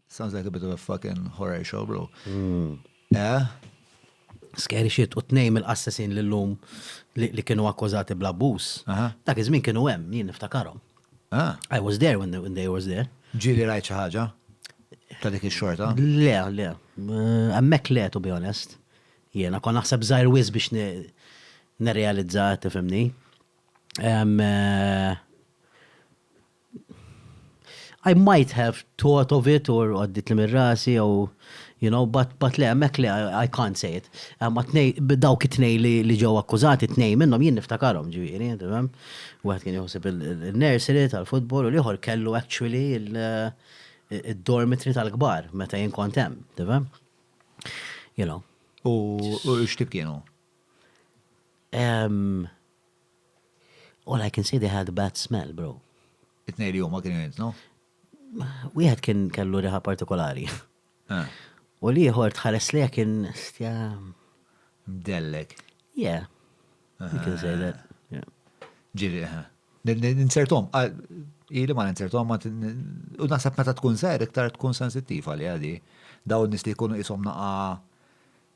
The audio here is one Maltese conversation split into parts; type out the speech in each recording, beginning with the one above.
Sounds like a bit of a fucking horror show, bro. Hmm. Eh? Scary shit, u t-nej mill-assassin l-lum li kienu akkużati bla bus. Dak iż-żmien kienu hemm, jien niftakarom. Ah. I was there when they, when they was there. Ġili rajt xi ħaġa? Ta' dik ix-xorta? Le, le. Hemmhekk le, to be honest. Jiena kon naħseb żgħir wis biex nirrealizza tifhimni. Eh, I might have thought of it or għadditli minn rasi jew you know, but, but le, hemmhekk le, I can't say it. Ma tnej, dawk it-tnej li ġew akkużati, tnej minnhom jien niftakarhom ġifieri, tifhem? Wieħed kien joħseb il-nursery tal-futbol u l-ieħor kellu actually il-dormitory tal-kbar meta jien kont hemm, tifhem? You know. U x'tib kienu? All I can say they had a bad smell, bro. It-tnejn li huma kienu jintnu? Wieħed kien kellu riħa partikolari. Ah. U l-ieħor tħares li kien stja. Mdellek. Yeah. You can say that. Ġiri, Ninsertom, ili ma ninsertom, u naħseb meta tkun ser, iktar tkun sensittiv għalli għadi. Daw nis li jkunu jisom naqa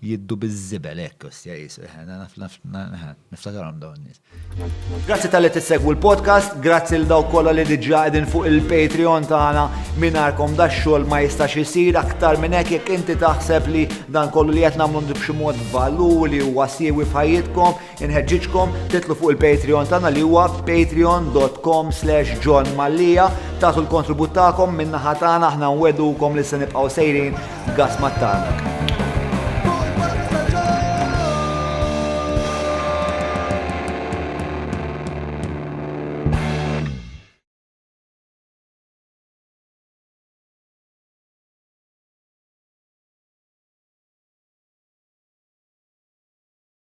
Jiddu biż-żibel hekk, ostja Jesu, eħe, naf, naf, eħe, niftakarhom dawn in-nies. Grazzi tal-li tissegwu l-podcast, grazzi l dawk kollha li diġà qegħdin fuq il-Patreon tagħna mingħajrkom da xogħol ma jistax isir aktar minn hekk jekk inti taħseb li dan kollu li qed nagħmlu b'xi mod valur li huwa siewi f'ħajjitkom, Inħeġġiġkom titlu fuq il-Patreon tagħna li huwa patreon.com slash John Mallia tagħtu l-kontribut tagħkom min-naħa tagħna aħna nwedukom li se nibqgħu sejrin gas mat-tarnak.